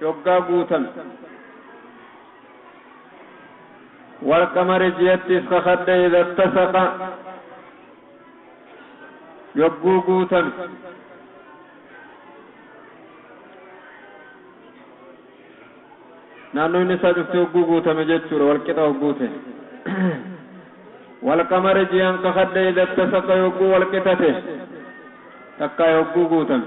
yoggaa guutame. Wal-qamari ji'attiis kakadhe idha ittasaqa yogguu guutame. Naannoon isaa cufti hogguu guutame jechuudha wal-qixa hogguu ta'e. Wal-qamari ji'an kakadhe idha ittasaqa yogguu wal-qixa ta'e takkaa yogguu guutame.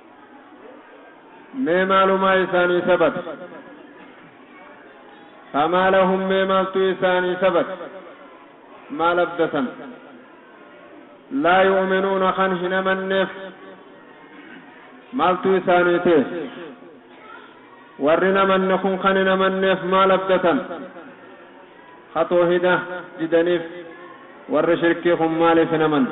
Mee maalumaa isaanii sabata? Famaa lahum mee maaltu isaanii sabata? Maal abdatan? Laa yu'minuuna kan hin amanneef maaltu isaanii ta'e? Warri namanne kun kan hin amanneef maal abdatan? Ka toohida didaniif warri shirkii kun maaliif hin amanne?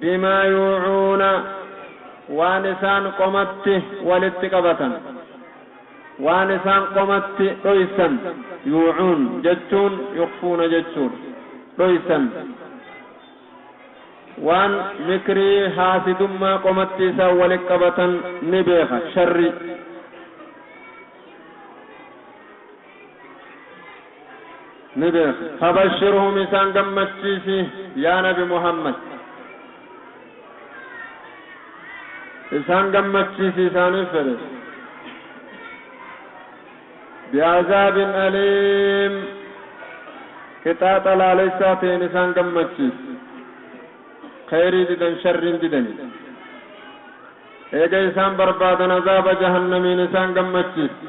bimaa yuucuuna waan isaan qomatti walitti qabatan, waan isaan qomatti dhoysan, yuucuun jechuun yukhfuuna jechuudha, dhoysan, waan mikrii haasidummaa qomatti isaan walitti qabatan ni beeka, sharrii. ni beekna. Fabashshirhum isaan gammachiisi yaa nabi Muhammad. Isaan gammachiisi isaaniif fedhe. Bi'azaabin aliim qixaaxa laalessaa ta'een isaan gammachiisi. Kheyrii didan sharriin didani. Eega isaan barbaadan azaaba jahannamiin isaan gammachiisi.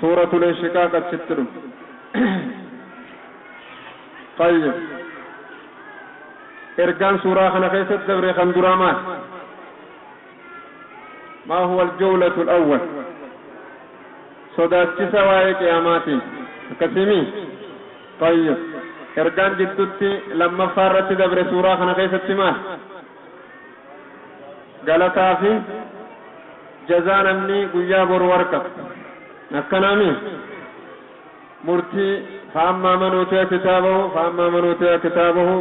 Suuratul Inshiqaaq achitti dhume. Tayyib. Ergaan suuraa kana keessatti dabre kan duraa maal? Maa huwa al-jawlatul awwal? Sodaachisa waa'ee qiyaamaatiin. Akkasiimii? Tayyib. Ergaan jiddutti lammaffaa irratti dabre suuraa kana keessatti maal? Galataa fi jazaa namni guyyaa boru arkatu. Akkana mi? Murtii faammaa manuutiya kitaabahu faammaa manuutiya kitaabahu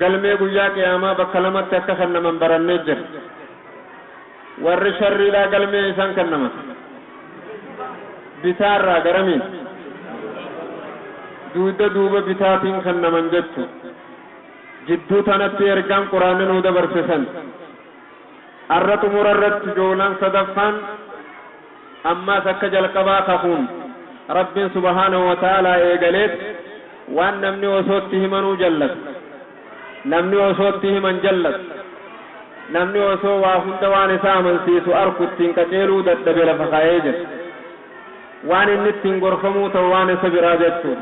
galmee guyyaa qiyaamaa bakka lamatti akka kennaman barannee jirra. Warri sharriidhaa galmee eesaan kennaman? Bitaarraa garamiin? Duuda duuba bitaatiin kennaman jechuu. Jidduu tanatti ergaan Qur'aanni nuu dabarse san arra xumura irratti joolan sadaffaan ammaas akka jalqabaa kakuun Rabbiin subhaanahu wa ta'aalaa eegaleet waan namni osoo itti himanuu jallatu, namni osoo itti himan jallatu, namni osoo waa hunda waan isa amansiisu arku ittiin qaceeluu dadhabe lafa kayee jira. Waan inni ittiin gorfamuu ta'u waan isa biraa jechuudha.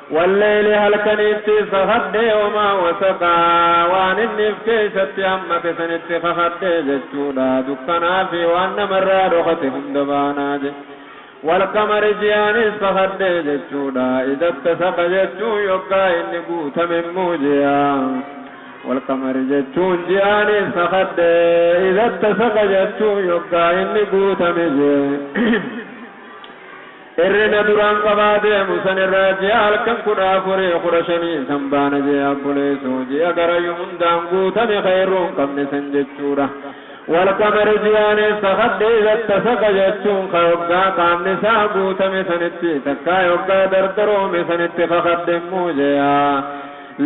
Wal-leyli halkaniittis kakadhee wamaa wasaqa, waan inni if keeysatti hammate sanitti kakadhee jechuudha, dukkanaa fi waan nama irraa dhokate hunda baanaa je'e. Wal-qamari ji'aanis kakadhee jechuudha, idha ttasaqa jechuun yoggaa inni guutame immoo ji'a. Wal-qamari jechuun ji'aanis kakadhe, idha ttasaqa jechuun yoggaa inni guutame je'e. Hirrina duraan qabaa deemu san irraa ji'a halkan kudha afurii kudha shanii san baana je'ee abboleessu ji'a garayu hundaan guutame ka hirruu hin qabne san jechuudha. Walqamari ji'aan eessa kadhe iza tasaka jechuun ka yoggaa qaamni isaa guutame sanitti takkaa yoggaa dardaroome sanitti kakadhe immoo je'a.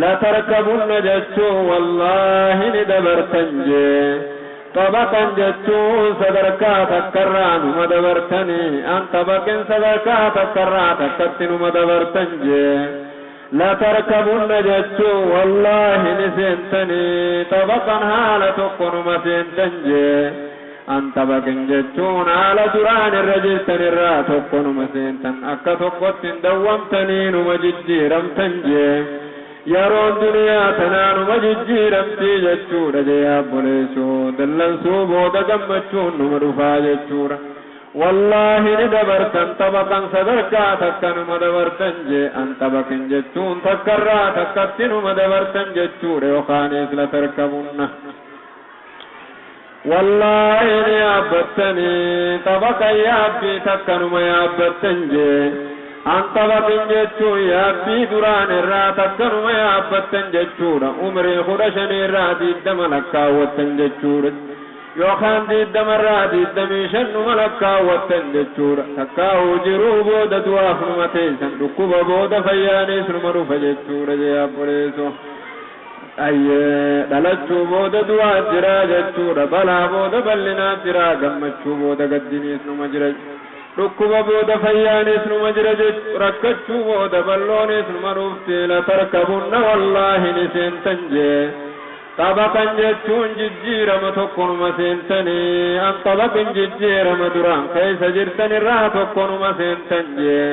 Latarkabunna jechuun wallaahi ni dabartan je'e. Tapha kan jechuun sadarkaa takkarraa numa dabartani an tapha ken sadarkaa takkarraa takkatti numa dabartan jee latarkabunna jechuun wallaahi ni seentani tapha kan haala tokko numa seentan jee an tapha ken jechuun haala duraan irra jirtan irraa tokko numa seentan akka tokkotti hin dawwamtanii numa jijjiiramtan jee Yaroon duniyaa tanaa numa jijjiiramtii jechuudha jee abboleesso dallansuu booda gammachuun numa dhufaa jechuudha wallaahi ni dabartan tapha kan sadarkaa takka numa dabartan jee an tapha kin jechuun takkarraa takkatti numa dabartan jechuudha yokaaniis latarkabunna Wallaahi ni yaabbattani tapha kan yaabbii takkanuma yaabbatten jee an taphatin jechuun yaabbii duraan irraa takkanuma yaabbatten jechuudha umrii kudha shanii irraa diiddama lakkaawwatten jechuudha yookaan diiddama irraa diiddamii shan numa lakkaawwatten jechuudha takkaahuu jiruu booda du'aaf numa teessan dhukkuba booda fayyaaniis numa dhufa jechuudha jee abboleeso Ayyee! Dhalachuu booda du'aan jira jechuudha. Balaa booda bal'inaan jira. Gammachuu booda gaddiniis numa jira. Dhukkuba booda fayyaanis numa jira jechu. Rakkachuu booda bal'oonis numa dhufti. Latarkabunna wallaahi ni seentan jee. Xabaqan jechuun jijjiirama tokkonuma seentanii. Anxabaqin jijjiirama duraan keessa jirtan irraa tokkonuma seentan jee.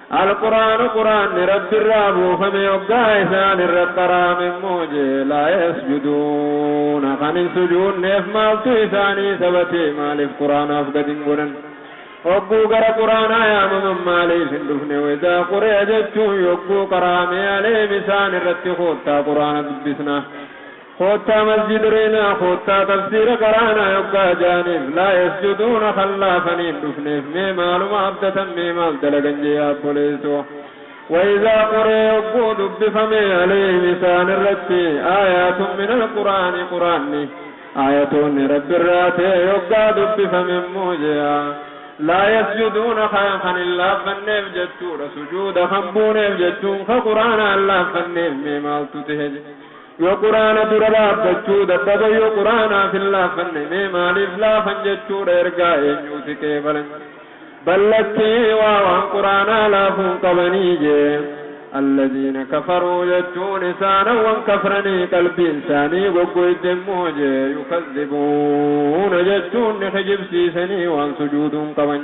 Al-Qur'aanu Qur'aanni Rabbirraa buufame hoggaa isaan irratti haraame immoo jee laa yasjuduuna kan hin sujuunneef maaltu isaanii sabatee maaliif Qur'aanaaf gad hin gonan? Hogguu gara Qur'aanaa yaamaman maaliif hin dhufne? Waidaa quri'a jechuun yogguu qara'ame aleem isaan irratti koottaa Qur'aana dubbisnaa. Koottaa masjid reenaa koottaa tafsiira qaraanaa yoggaa jaaniif laa yasjuduuna kan laafanii hin dhufneef mee maaluma abdatan mee maal dalagan jee yaa obboleesso wa izaa quri'a yogguu dubbifame aleeyhim isaan irratti aayaatun minal qur'aani qur'aanni aayatoonni rabbi irraa ta'e yoggaa dubbifame immoo jea laa yasjuduuna kaan kan hin laaffanneef jechuudha sujuuda kan buuneef jechuun ka qur'aana hin laaffanneef mee maaltu ta'e Yoo Qur'aana dura dhaabbachuu dadhaban yoo Qur'aanaaf hin laaffanne mee maaliif laafan jechuudha ergaa eenyuu si qeebalan bal lakkii waa waan Qur'aanaa laafu hin qabanii jee Allaziina kafaruu jechuun isaana wan kafranii qalbiin isaanii goggoyde immoo jee yukazzibuuna jechuun ni kijibsiisanii waan sujuuduu hin qaban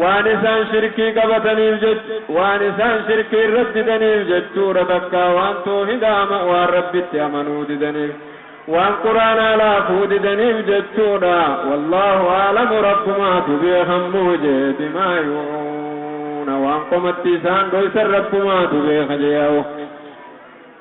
Waan isaan shirkii qabataniif jecha, waan isaan shirkii irratti didaniif jechuudha takkaa waan toohidaa ma'waa Rabbitti amanuu didaniif, waan quraanaa laafuu didaniif jechuudha, wallaahu a'lamu Rabbumaatu beekan muujee bimaa yu'uuna waan qomatti isaan dhoysan Rabbumaatu beeka je'au.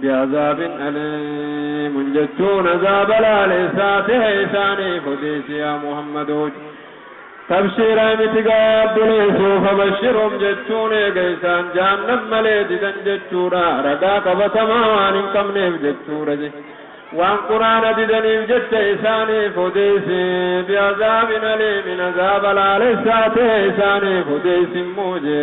bi'azaabin aliimun jechuun azaaba laaleessaa tahe isaaniif odeessi yaa Muhammadu. Tabshiiraa miti gaa obboleessoo fabashshirum jechuun eega isaan jahannam malee didan jechuudha ragaa qabatamaa waan hin qabneef jechuudha je. Waan qur'aana didaniif jecha isaaniif odeessi bi'azaabin aliimin azaaba laaleessaa tahe isaaniif odeessi immoo je.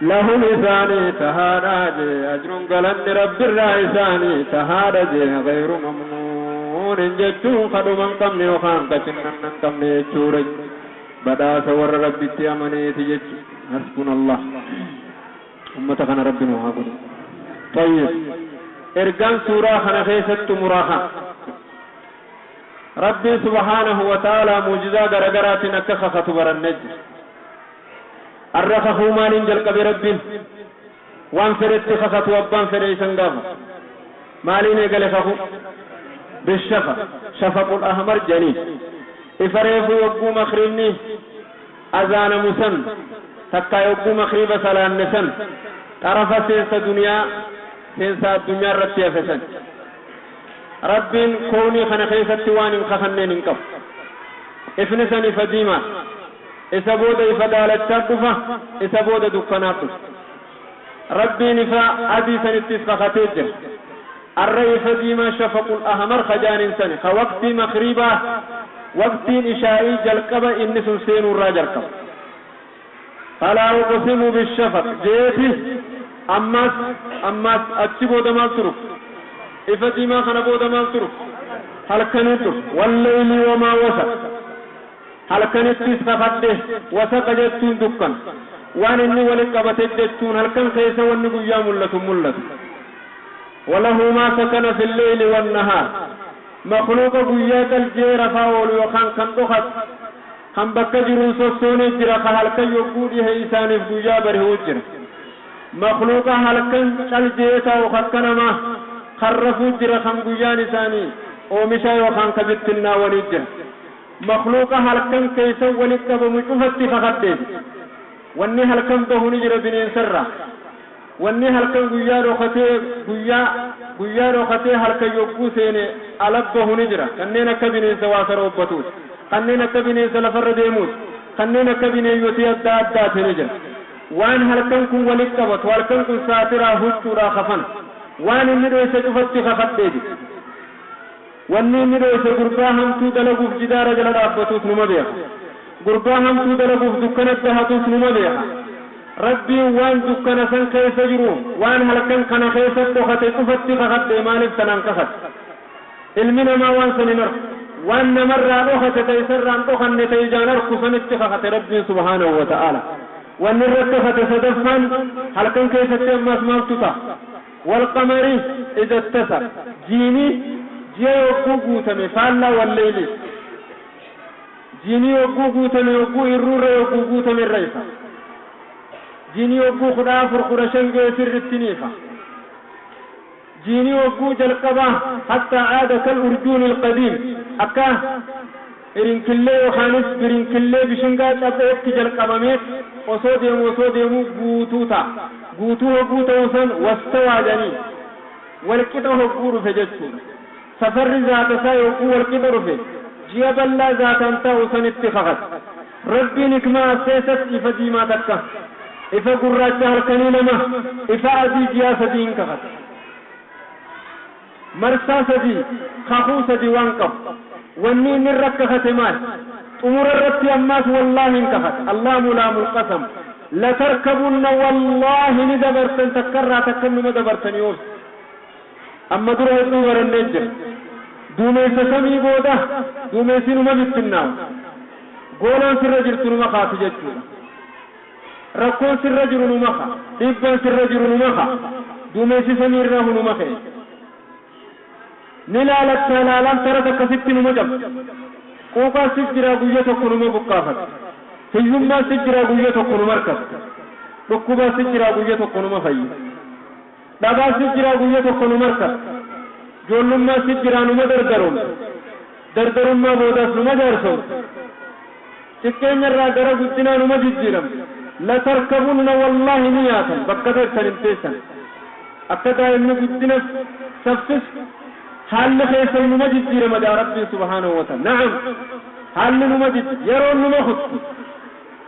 Lahum isaanii tahaadha jee ajrun galanni Rabbirraa isaanii tahaadha jee ghayru mamnuunin jechuun ka dhuma hin qabne yookaan ka cinnanna hin qabne jechuudha badhaasa warra Rabbitti amaneeti jechu hasbunallah ummata kana Rabbi nu haa godhu xayyib ergaan suuraa kana keessatti xumuraa kan Rabbiin subhaanahu wa ta'aalaa muujizaa garagaraatiin akka kakatu barannee jira Arra kakuu maaliin jalqabe Rabbiin? Waan fedhetti kakatuu abbaan fedhe isa hin gaafatu. Maaliin eegale kakuu? Bishafa, shafaqul ahmar, jedhaniin. Ifa reefuu yogguu makhribni azaanamu san takkaa yogguu makhriba salaanne san xarafa seensa duniyaa, seensa addunyaa irratti hafe san. Rabbiin kownii kana keessatti waan hin kakanneen hin qabu. Ifni san ifa diimaadha. Isa booda ifa daalachaat dhufa, isa booda dukkanaat dhufa. Rabbiin ifa adii sanittis kakatee jira. Arra ifa diimaa shafaqul ahmar ka jaaniin sani, ka waqtii maghriibaa, waqtiin ishaa'ii jalqaba inni sun seenuu irraa jalqaba. Falaa uqsimu bishafaq jeeti. Ammaas, ammaas achi booda maaltu dhufa? Ifa diimaa kana booda maaltu dhufa? Halkaniit dhufa. Wallayli wamaa wasaq. Halkanittis kakadhe, wasaqa jechuun dukkana. Waan inni wali qabate jechuun halkan keessa wanni guyyaa mul'atu mul'ata. Walahu maa sakana fi lleyli wannahaar. Makhluuqa guyyaa cal je'ee rafaa oolu yookaan kan dhokatu, kan bakka jiru hin sossoone jira, ka halkan yogguu dhihe isaaniif guyyaa bari'u jira. Makhluuqa halkan cal je'ee taa'u kakka namaa, kan rafu jira, kan guyyaan isaanii oomishaa yookaan ka bittinnaawanii jira. Makhluuqa halkan keessa walitti qabamu cufatti kakadhe. Wanni halkan bahu ni jira bineensarraa. Wanni halkan guyyaa dhokatee guyyaa, guyyaa dhokatee halkan yogguu seene ala bahu ni jira. Kanneen akka bineensa waa saroobbatuus, kanneen akka bineensa lafarra deemuus, kanneen akka bineeyyotii adda addaati ni jira. Waan halkan kun walitti qabatu, halkan kun saatiraa, huccuudhaa, kafana. Waan inni dhoyse cufatti kakadhe jedhe. Wanni inni dhoyse gurbaa hamtuu dalaguuf jidaara jala dhaabbatuus numa beekha. Gurbaa hamtuu dalaguuf dukkana dahatuus numa beekha. Rabbiin waan dukkana san keessa jiru, waan halkan kana keessa dhokate cufatti kakhadhe maaliif tanaan kakhate? Ilmi namaa waan san hin arku. Waan namarraa dhokate ta isarraa hin dhokanne ta ijaan arku sanitti kakhate Rabbiin subhaanahu wa ta'aalaa. Wanni irratti kakhate sadaffaan halkan keessatti ammaas maaltu taha? Walqamari idha ttasa, jiini jia yogguu guutame faallaa walleyliif. Jiini yogguu guutame yogguu irruu irra yogguu guutame irra ifa. Jiini yogguu kudha afur kudha shan ga'e sirritti ni ifa. Jiini yogguu jalqabaa hatta aada kal urjuunil qadiim akkaa. Irinkillee yookaanis birinkillee bishingaa caphootti jalqabameet osoo deemu osoo deemuu guutuu ta'a. Guutuu hogguu ta'u san wastawaa jedhanii. Walqixa hogguu dhufe jechuudha. Safarri zaata isaa yogguu walqixa dhufe ji'a bal'aa zaataan taa'u sanitti kakata. Rabbiin hikmaa as keessatti ifa diimaa takka, ifa gurraacha halkanii lama, ifa adii ji'aa sadi'iin kakata. Marsaa sadii, kakuu sadii waan qabu. Wanni inni irra kakhate maali? Xumura irratti ammaas wallaahiin kakhate. Allaamu laamul qasam. Latarkabunna wallaahi ni dabartan takka irraa takka innuma dabartanii obsi. Amma dura hedduu barannee jirra. Duumessa samii booda duumessi numa bittinnaawa. Goolaan sirra jirtu numa kaati jechuudha. Rakkoon sirra jiru numa ka. Dhiibbaan sirra jiru numa ka. Duumessi samii irraa hu numa kee. Ni laalattaa laalaan tara takka sitti numa cabsa. Quuqaan sif jiraa guyya tokko numa buqqaafata. Hiyyummaan sif jiraa guyya tokko numa irkata. Dhukkubaan sif jiraa guyya tokko numa fayya. Dhabaa si jiraa guyya tokko nu marka Joollummaa si jiraa numa dardaroomsa Dardarummaa boodaas numa jaarsomsa Xiqqeenyarraa gara guddinaa numa jijjiiramna Latarkabunna wallaahi ni yaatan bakka beektan hin teessan Akka daa'imni guddina saffisu haalli keessan numa jijjiirama ja'a Rabbiin subhaanahu wa ta, na'am haalli numa jijji yaroon numa kutti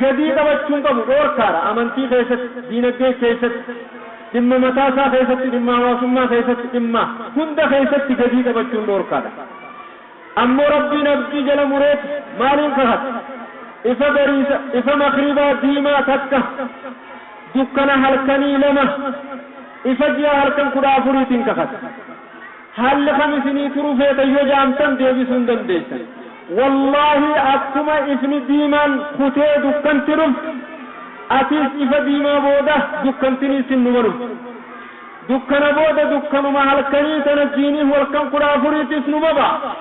gadii qabachuu hin qabu, dhoorkaadha. Amantii keessatti, diinagdee keessatti, dhimma mataa isaa keessatti, dhimma hawaasummaa keessatti, dhimma hunda keessatti gadii qabachuun dhoorkaadha. Ammoo Rabbiin abdii jala mureeti maaliin kakata? Ifa bariisa, ifa makhribaa diimaa takka, dukkana halkanii lama, ifa ji'a halkan kudha afuriitiin kakata. Haalli kam isinii turu feeta yoo jaamtan deebisuu hin dandeessan. Wallaahi akkuma ifni diimaan kutee dukkanti dhuftu atiis ifa diimaa booda dukkantiniis hin numa dhufti. Dukkana booda dukkanuma halkanii tana jiiniin walkan kudha afuriitis numa baha.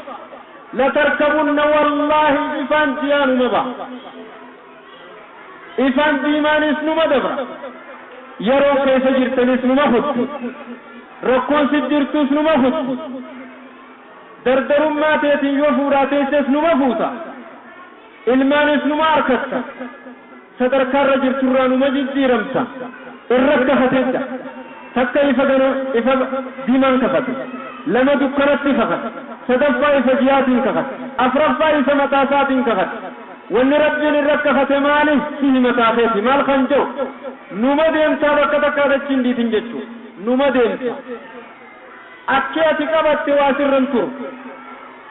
Latarkabunna wallaahi ifaan jiyaa numa baha. Ifaan diimaanis numa dabra. Yeroon keessa jirtanis numa kutti. Rakkoon sit jirtus numa kutti. Dardarummaa teetiin yoo fuudhaa teesses numa fuuta. Ilmaanis numa arkatta. Sadarkaa irra jirturraa numa jijjiiramta. Irra kafatedda. Takka ifa gana ifa diimaan kakate. Lama dukkanatti kakate. Sadaffaa ifa ji'aatiin kakate. Afraffaa ifa mataa isaatiin kakate. Wanni Rabbiin irra kafate maali? Sihi mataa keeti maal kan je'u? Numa deemtaa bakka takkaa dachii hin dhiitin jechu. Numa deemta. Akki ati qabatte waa sirra hin turu.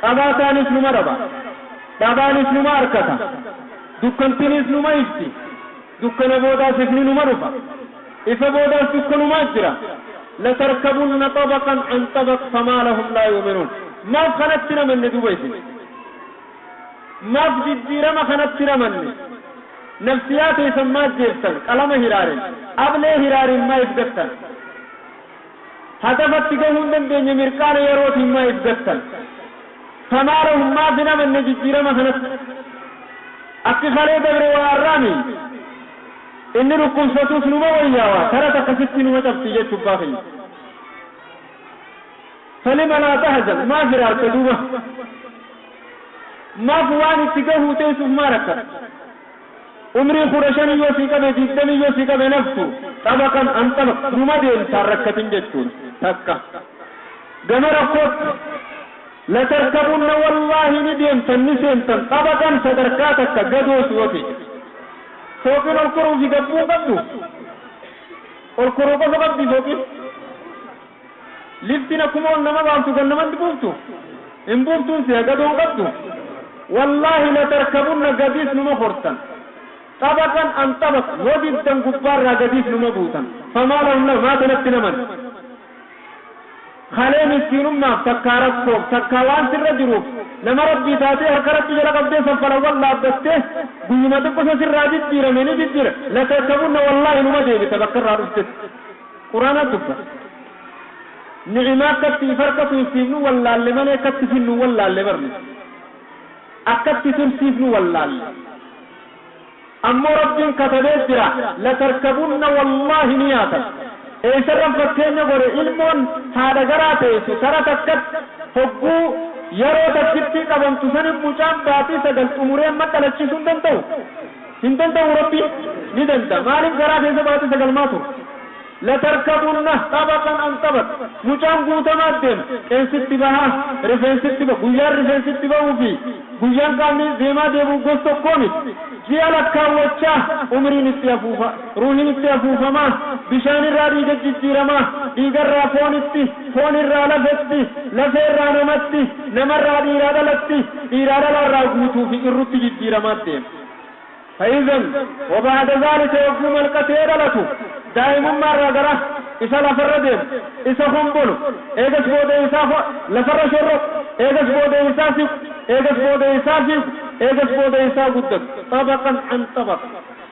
Qabaataanis numa dhaba. Dhabaanis numa arkata. Dukkantiniis numa ifti. Dukkana boodaas ifni numa dhufa. Ifa boodaas dukkanumaa jira. Latarkabunna xabaqan an xabaq famaa lahum laa yu'minuun. Maaf kanatti hin amanne duuba isin? Maaf jijjiirama kanatti ramanne? Nafsiyaa teessan maaf jeeftan? Qalama hiraaren, ablee hiraariin maaiif gattan? Hadafatti gahuu hin dandeenye mirqaana yerootiin maaiif gattan? Tamaalahum maaf hin amanne jijjiirama kanatti? Akki kalee dabre waa arraa mii? Inni dhukkubsatuus numa wayyaawa, tara takka sitti numa cabsii jechubbaa keenya. Salima laa tahzan maaf hiraarta duuba? Maaf waan itti gahuu teessuuf maa rakkata? Umrii kudha shanii yoo sii qabe digdamii yoo sii qabe naftu xabaqan an xabaq numa deemta hin rakkatin jechuun takka. Gama rakkootti Latarkabunna wallaahi ni deemtan ni seentan xabaqan sadarkaa takka gadoos yoo ta'e. Fooqiin ol koruu fi gabbuu hin qabdu? Ol koruu qofa qabdi fooqiin? Liftin akkuma ol nama baaftu gad nama buuftu hin buuftuun seha gadoo hin qabdu wallahi latarkabunna gadiis numa kortan xabaqan an xabaq yoo diddan gubbaarraa gadiis numa buutan famaa lahum lahum maa tanatti naman kalee miskiinummaaf takkaa rakkoof takkaa waan sirra jiruuf nama rabbii taatee harka rabbi jala qabdee saffala wal dhaabbattee guyyuma xiqqosa sirraa jijjiirame ni jijjiira latarkabunna wallahi numa deebita bakkarraa dhuftetti Qur'aana dubbate. Ni'imaa akkatti if harkatu if fiifnu wallaalle malee akkatti finnu wallaalle bar nuti. Akkatti tursiifnu wallaalle. Ammoo Rabbiin katabee jira latarkabunna wallaahi ni yaatan. Eessarran fakkeenya godhe ilmoon haadha garaa teessu tara takkatti hogguu yaroo takkittii qabamtu sanin mucaan baatii sagal xumuree madhalachisuu hin danda'u. Hin danda'uu Rabbiin ni danda'a maaliif garaa keessa baatii sagal maa tura latarkabunna xabaqan an xabaq mucaan guutamaa deema qeensitti bahaa rifeensitti ba guyyaan rifeensitti ba'uu fi guyyaan qaamni deemaa deebi'u gos tokkoo miti ji'a lakkaawwachaa umriin itti afuufaa Ruuhin itti afuufama, bishaan irraa dhiiga jijjiirama, dhiiga irraa foonitti, foon irraa lafetti, lafee irraa namatti, nama irraa dhiiraa dhalatti, dhiiraa dhala irraa guutuu fi irrutti jijjiiramaa deema. Faizan waba'ada zaalika yogguu malqatee dhalatu, daa'imummaa irraa gara isa lafa irra deemu, isa hombolu, eegas booda isaa ho, lafa irra shorroqu, eegas booda isaa siqu, eegas booda isaa fiigu, eegas booda isaa guddatu, xabaqan an xabaq.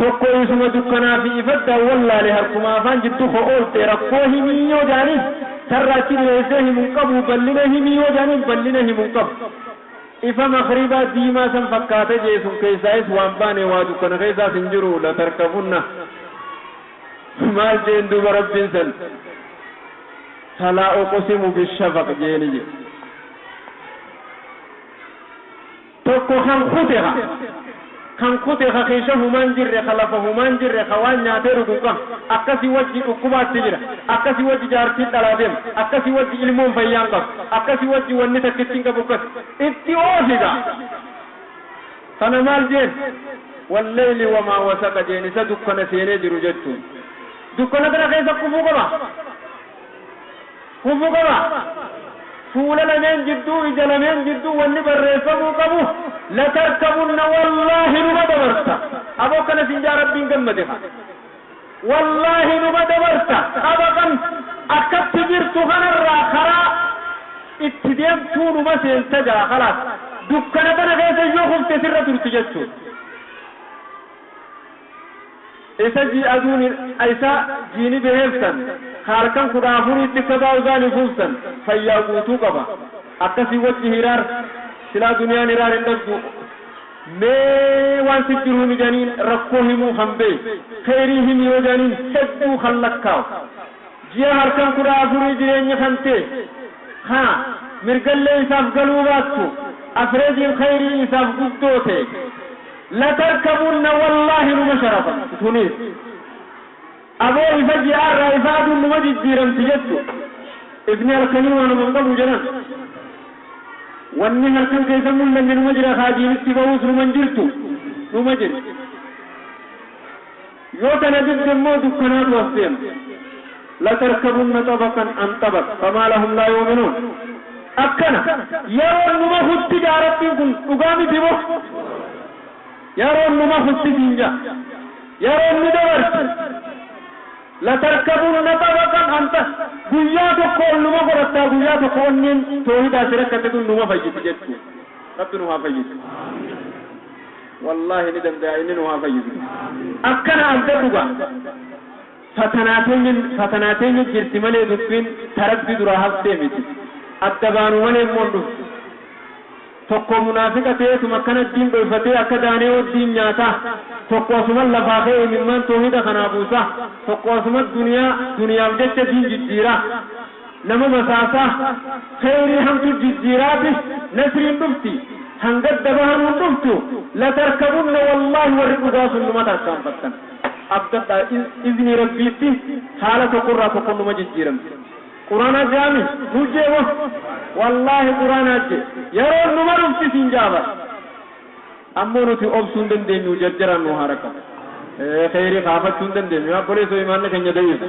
Tokko isuma dukkanaa fi ifa addaan wallaale harkuma afaan jiddu koo oolte rakkoo himii yoo jaaniin sarra achi dhiheessee himu hin qabu ballina himii yoo jaaniin ballina himu hin qabu ifa makribaa diimaa san fakkaata jee sun keessaayis waan baane waa dukkana keessaas hin jiru latarkafunna maal jeen duuba rabbiin san falaa uqsimu bishafaq jeeni jee Tokko kan kute ka. Kan kute ka keesha humaa hin jirre, ka lafa humaa hin jirre, ka waan nyaatee dhugu hin qabne. Akkasi wajji dhukkubaatti jira. Akkasi wajji jaartiin dhalaa deema. Akkasi wajji ilmoon fayyaa hin qabu. Akkasi wajji wanni takkittiin qabu akkasi. Itti oofi gaa. Kana maal jeen? Wallayli wamaa wasaqa jeen isa dukkana seenee jiru jechuun. Dukkana tana keessa kufuu qaba? fufu qaba. Fuula lameen jidduu, ija lameen jidduu wanni barreeffamuu qabu latarkabunna wallaahi numa dabarta. Aboo akkana siin ja'a Rabbiin gammade kaa. Wallaahi numa dabarta xabaqan akkatti jirtu kanarraa karaa itti deemtuu numa seenta gaa khalaas. Dukkana tana keessa yoo kufte sirra turti jechuudha. Isa jii aduun hin Isa jiini beheef san ka halkan kudha afuriitti sabaa uzaan ifuuf san fayyaa guutuu qaba akkasii wacci hiraar silaa duniyaan hiraar hin dhabduu mee waan sif jiru himi jaaniin rakkoo himuu kan bee keyrii himi yoo jaaniin hedduu kan lakkaawu ji'a halkan kudha afurii jireenyi kan tee ka mirgallee isaaf galuu baattu afreejiin keyrii isaaf guddoo tee Latarkabunna wallahi numa sharafa tunis aboo ifa ji'a irraa ifa aduun numa jijjiiramti jettu ifni halkanii waanuma hin qabu jedhan wanni halkan keessa hin mullanne numa jira ka adiin itti bahuus numa hin jirtu numa jirti. Yoo kana didde immoo dukkanaatu as deema. Latarkabunna xabaqan an xabaq, famaa lahum laa yu'minuun. Akkana, yaroon nu mahutti ja'a Rabbiin kun, dhugaa miti moo? Yaroon nu mahutti siin ja'a. Yaroon ni dabarti. Latarkabunna xabaqan an xa, guyyaa tokko ol numa godhattaa, guyyaa tokko onneen toohidaa si rakkatte tun numa fayyiti jechuudha. Rabbi nu haa fayyisu. Wallahi ni danda'a inni nu haa fayyisu. Akkana abdadhu gaa fatanaa tenya fatanaa tenya jirti malee dubbiin ta rabbi duraa haftee miti adda baanu malee immoo hin dhuftu tokkoo munaafiqa ta'eetuma akkana diin dhoyfatee akka daaneewoo diin nyaataa tokko asuman lafaa ka'ee imimmaan toohida kanaa buusaa tokko asuma duniyaa duniyaaf jecha diin jijjiiraa Nama basaasaa, kheeyrii hamtu jijjiiraati, nasriin dhufti, kan gadda bahanuun dhuftu, latarkabunna wallaahi warri dhugaa sun numa tarkaanfattan. Abdadhaa iznii Rabbiitti haala tokko irraa tokko numa jijjiiramti. Quraanaa je'aami? Nuu je'e mo? Wallaahi quraanaa je'e. Yaroon numa dhufti siin je'a bar. Ammoo nuti obsuu hin dandeenyu jarjaraan nuu haa rakkabu. Kheeyrii kaafachuu hin dandeenyu yaa obboleessoo iimaanni keenya da'iifa.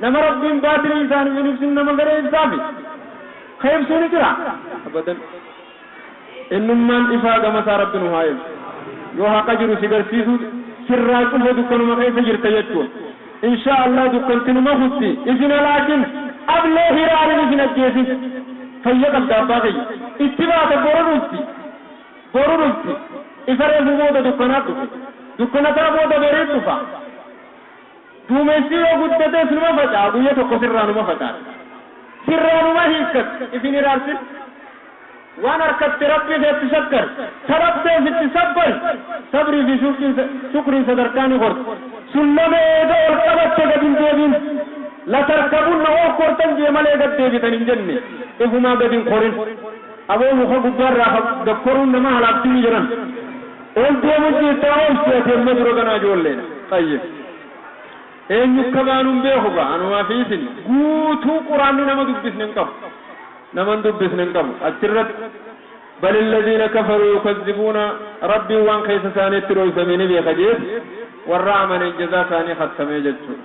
Nama Rabbiin baatirii isaaniif hin ibsin nama fedhe ibsaafi. Ka ibsu ni jira? Abadan. Ennummaan ifaa gama isaa Rabbi nu haa ergu. Yoo haqa jiru si garsiisu sirraa cufe dukkanuma keessa jirta jechuun. Inshaa Allaah dukkanti numa kutti. Isin halaakin! Ablee hiraarin isin ajjeesin! Fayya qabda abbaa kiyya. Itti baata boru dhufti. Boru dhufti. Ifa reefu booda dukkanaat dhufe. Dukkanataa booda bariit dhufa. Duumessi yoo guddates numa faca'a guyya tokko sirraa numa facaasa. Sirraa numa hiikkata. If hin hiraarsin. Waan harkatte Rabbii keetti shakkari. Ta dhabde ofitti sabbari. Sabrii fi shukriin sadarkaa ni korti. Sullama eega ol qabatte gad hin deebi'in. La tarkabunna ol kortan jee malee gad deebitan hin jenne. Ifumaa gad hin korin. Aboo muka gubbaarraa gad koruun nama halaagdimi jedhan. Ol deemun jirtaa obsi ati amma dura kanaa ijoolleedha xayyib eenyu akka baanu hin beeku gaa anumaa fi isin guutuu quraanni nama dubbisne hin qabu nama hin dubbisne hin qabu achirratti bal illadiina kafaruu yukazzibuuna rabbiin waan keessa isaaniitti dhooysame ni beeka jeeti warra amaneen jazaa isaanii khattamee jechuudha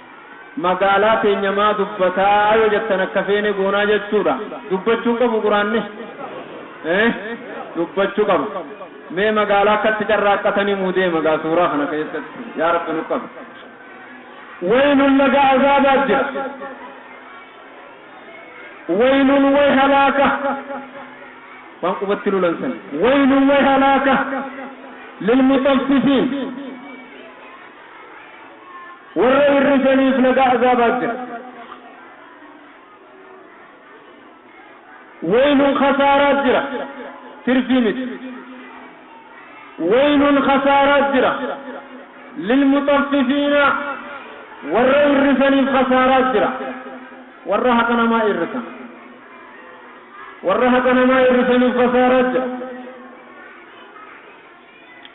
Magaalaa teenya maa dubbataa yoo jettan akka feene goonaa jechuudha. Dubbachuu hin qabu quraanni? Ee dubbachuu qaba. Mee magaalaa akkatti carraaqqatan himuu deema gaa suuraa kana keessatti. Yaa Rabbi nu qabi. Waylun laga azaabaa jira. Waylun way halaaka. Waan qubatti lulan san. Waylun way halaaka. Lilmuxaffifiin. Warra hir'isaniif laga azaabaa jira. Waylun khasaaraa jira. Tirfii miti. Waylun khasaaraa jira. Lilmuxaffifiina warra hir'isaniif khasaaraa jira. Warra haqa namaa hir'isan. Warra haqa namaa hir'isaniif khasaaraa jira.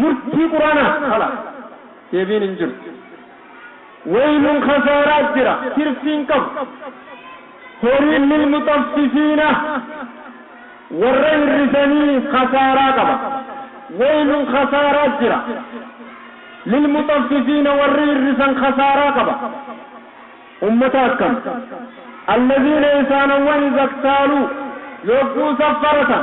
Murtii Qur'aanaan ala deebiin hin jiru. Waylun khasaaraa jira, tirfii hin qabu. Horiin lilmuxaffifiina, warra hir'isanii khasaaraa qaba. Waylun khasaaraa jira, lilmuxaffifiina warri hir'isan khasaaraa qaba. Ummata akkam? Allaziina isaanowwan iza ktaaluu, yogguu saffaratan.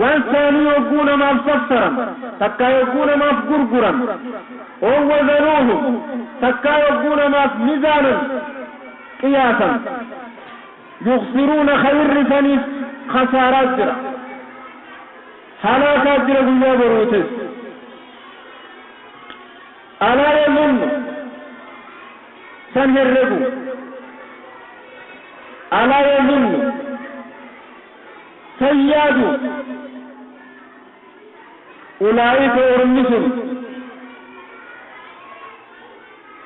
Walta'anii yogguu namaaf saffaran, takkaa yogguu namaaf gurguran, ow wazanuuhum, takkaa yogguu namaaf mizaanan, qiyaasan, yukhsiruuna khayrri isaniif khasaaraa jira, halaakaa jira guyyaa boruutis. Alaa yommun san herregu Alaa yommun san yaadu Ulaa'ika ormi sun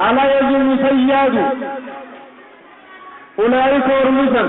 Alaa yommun san yaadu Ulaa'ika ormi san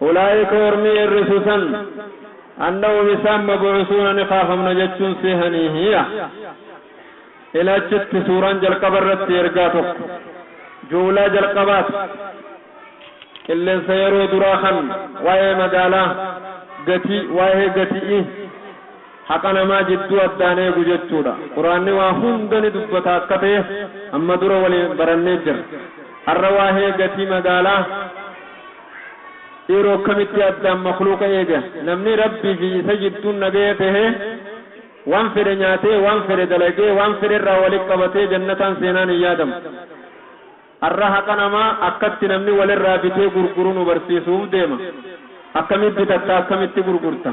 Ulaa'ika ormi eerrisu san, annahum isaan mab'uusuuna ni kaafamna jechuun seehaniihiya. Ila achitti suuraan jalqaba irratti ergaa tokko, ju'ulaa jalqabaati. Qilleensa yeroo duraa kan waa'ee magaalaa, gatii, waa'ee gati'ii, haqa namaa jidduu addaan eegu jechuudha. Qur'aanni waa hunda ni dubbata akka ta'e amma dura waliin barannee jirra. Har'a waa'ee gatii magaalaa, Yeroo akkamitti Addaam makhluuqa eege? Namni Rabbii fi isa jidduun nagaya tahe, waan fedhe nyaatee, waan fedhe dalagee, waan fedhe irraa wali qabatee jannataan seenaan hin yaadamu. Har'a haqa namaa akkatti namni wal irraa bitee gurguru nu barsiisuuf deema. Akkamitti bitatta? Akkamitti gurgurta?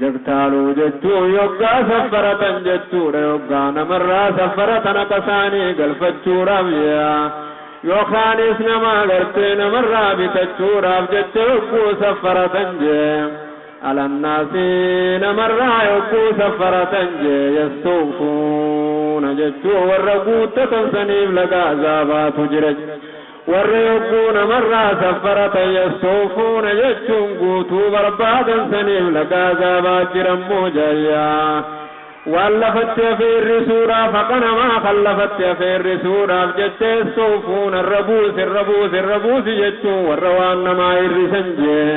Jektaaluu jechuun yoggaa saffaratan jechuudha. Yoggaa namarraa saffaratan akasaanii galfachuudhaaf je'a. Yookaanis nama agartee namarraa bitachuudhaaf jecha yogguu saffaratan je'a. Alannaasi namarraa yogguu saffaratan je'a yastuufuuna jechuun warra guuttatan saniif laga azaabaatu jira. Warri yogguu namarraa saffaratan yastawfuuna jechuun guutuu barbaadan saniif laga azaabaa jiran muujayya. Waan lafatti hafe hir'isuudhaaf haqa namaa kan lafatti hafe hir'isuudhaaf jecha yastawfuuna irra buusi irra buusi irra buusi jechuun warra waan namaa hir'isan jee.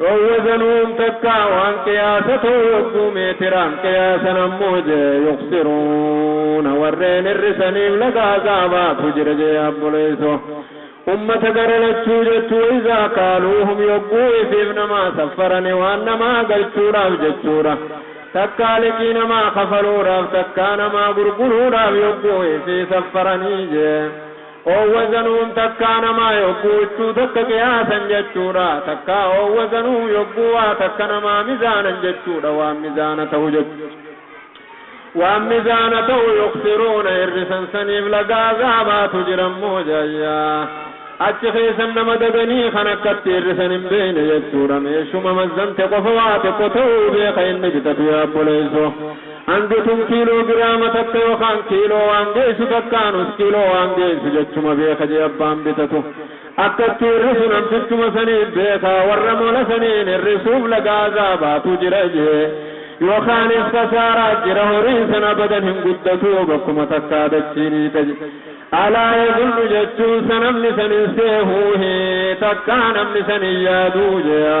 Dhoowwa sanuun takka waan qiyaasa ta'u yogguu meetiraan qiyaasan ammoo jee yuqsiruuna warreen hir'isaniif laga azaabaatu jira jee abboleesso ummata gara lachuu jechu wa'izaa kaaluuhum yogguu ifiif namaa saffarani waan namaa galchuudhaaf jechuudha takkaa liqii namaa kafaluudhaaf takkaa namaa gurguruudhaaf yogguu ifii saffaranii jee Oowwa zanuun takkaa namaa yogguu huccuu takka qiyaasan jechuudha. Takkaa oowwa zanuu yogguu waa takka namaa mizaanan jechuudha. Waan mizaana ta'u jechuudha. Waan mizaana ta'u yuksiruuna hir'isan saniif laga azaabaatu jirammoo jahayyaa. Achi keessan nama dadanii kan akkatti hir'isan hin beeyne jechuudha. Meeshuma mazzante qofa waa tokko ta'uu beeka inni bitatu yaa obboleesso. Hangi kun kiiloo giraama takka yookaan kiiloo waan geessu takkaa nus kiiloo waan geessu jechuma beeka jee abbaan bitatu akka itti hirrisu namtichuma saniif beeka warra mola saniin hirrisuuf laga azaabaatu jira jee yookaanis kasaaraa jira horiin san abadan hin guddatu bakkuma takkaa dachii ni taji alaa yazullu jechuun sa namni san hin seehuu hi takkaa namni san hin yaaduu jeya.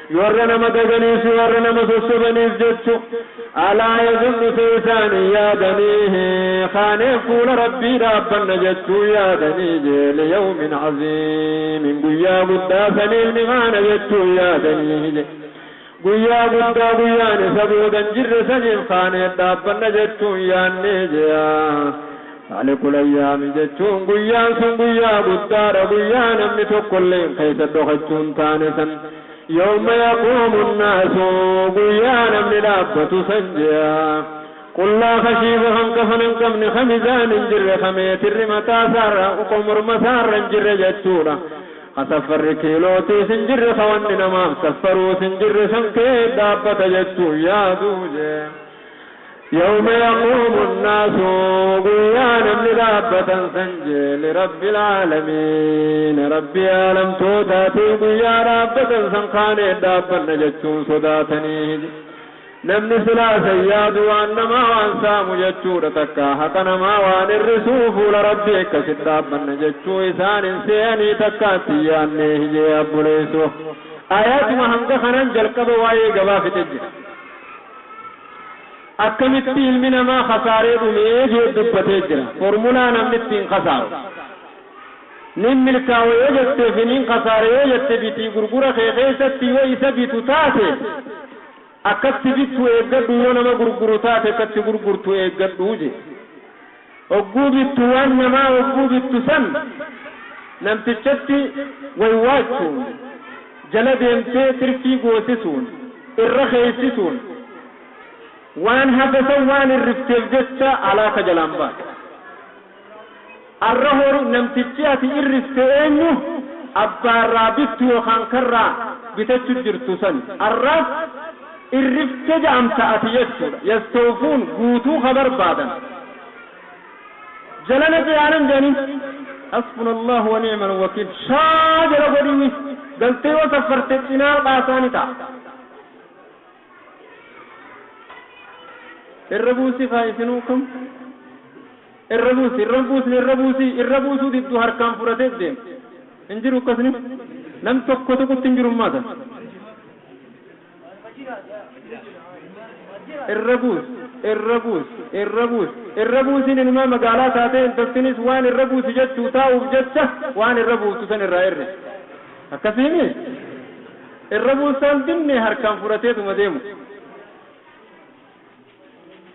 Warra nama gaganii fi warra nama sossobaniif jechu, alaa yazunnu see isaanii yaadanii, kaanee fuula Rabbii dhaabbanna jechuu yaadanii jee liyawmin aziimin guyyaa guddaa saniif ni kaana jechuu yaadanii jee guyyaa guddaa guyyaan isa boodan jirre saniif kaanee dhaabbanna jechuun yaannee jeyaa Faalikul Ayyaami jechuun guyyaan sun guyyaa guddaadha, guyyaa namni tokkolleen keessa dhokachuu hin taane san. Yawma yaquumu nnaasu, guyyaa namni dhaabbatu san je'a. Qullaa kashiifa kan kafana hin qabne, ka mizaan hin jirre, ka meetirri mataa isaarra, ka morma isaarra hin jirre jechuudha. Ka saffarri kiilootiis hin jirre, ka wanni namaaf saffaruus hin jirre san keessa dhaabbata jechuun yaadu je'a. Yawma yaquumu nnaasu guyyaa namni dhaabbatan san je lirabbil aalamiina rabbii aalamtootaatiif guyyaa dhaabbatan san kaanee dhaabbanna jechuun sodaatanii je namni silaa san yaadu waan namaa waan saamu jechuudha takkaa haqa namaa waan irrisuu fuula rabbii akkasitti dhaabbanna jechuu isaan hin seeyanii takkaa itti hin yaannee hi je abboleesso ayatuma hanga kanan jalqaba waa'ee gabaa fixe jira. Akkamitti ilmi namaa kasaaree dhume jee dubbatee jira. Formulaa namni ittiin kasaaru. Nin milkaawa yoo jettee fi nin kasaare yoo jette bitii gurgura kee keessatti yoo isa bitu taate akkatti bittu eeggadhu yoo nama gurguru taate akkatti gurgurtu eeggadhu jee. Hogguu bittu waan namaa hogguu bittu san namtichatti waywaachuun, jala deemtee tirfii goosisuun, irra keeysisuun, waan hafe san waan hirrifteef jecha halaaka jalaan baate. Arra hori namtichi ati irrifte eenyu? Abbaarraa bittu yookaan karraa bitachu jirtu sani. Arraas. irrifte jaamta ati jechudha yastowfuun guutuu ka barbaadan jalana jeyaanan janin hasbunallahu wa ni'mal wakiil shaa jala godhi wi galtee yoo saffarte cinaa baasaa ni ta'a irra buusi kaa isinuu kam irra buusi irra buusni irra buusi irra buusuu diddu harkaan fudhatee deem hin jiru akkasni nam tokko tuqutti hin jiru maata irra buus irra buus irra buus irra buusiin inumaa magaalaa taatee intaltinis waan irra buusi jechuu taa'uuf jecha waan irra buuftu san irraa irri akkasiimi irra buusaan dinne harkaan fudhateetuma deemu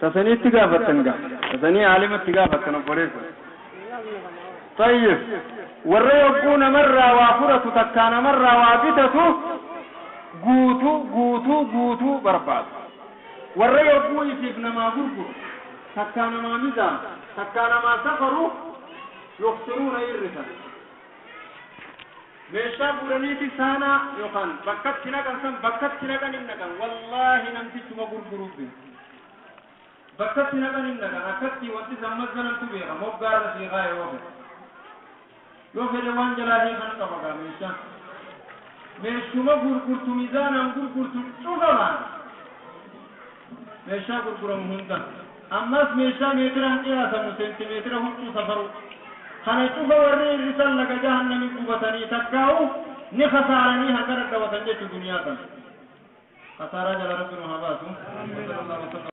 Tasanii itti gaafattan gaa. Tasanii aalima itti gaafattan obboleessa. Xayyib. Warra yogguu namarraa waa fudhatu takkaa namarraa waa bitatu guutuu guutuu guutuu barbaadu. Warra yogguu ifiif namaa gurguru takkaa namaa mizaanu takkaa namaa safaru yukhsiruuna irrisan. Meeshaa fuudhaniiti saanaa yookaan bakka itti naqan san bakka itti naqan hin dhaqan. Wallaahi namtichuma gurguruuf beeku. Bakka itti naqan hin dhaqan. Akkatti wanti san mazanantu beeka. Moggaa irra sii kaaya yoo fedhe. Yoo fedhe waan jalaa hiikan qaba gaa meeshaa. Meeshuma gurgurtu mizaanaan gurgurtu cufa baana. Meeshaa gurguramu hunda. Ammas meeshaa meetiraan qiyaasamu, seentimeetira huccuu safaruu. Kana cufa warri hir'isan laga jahannami gubatanii takkaa'u ni khasaaranii harka dhadhawatan jechu duniyaa tana. Khasaaraa jala Rabbi nu haa baasu. Wa sallallahu wa sallam.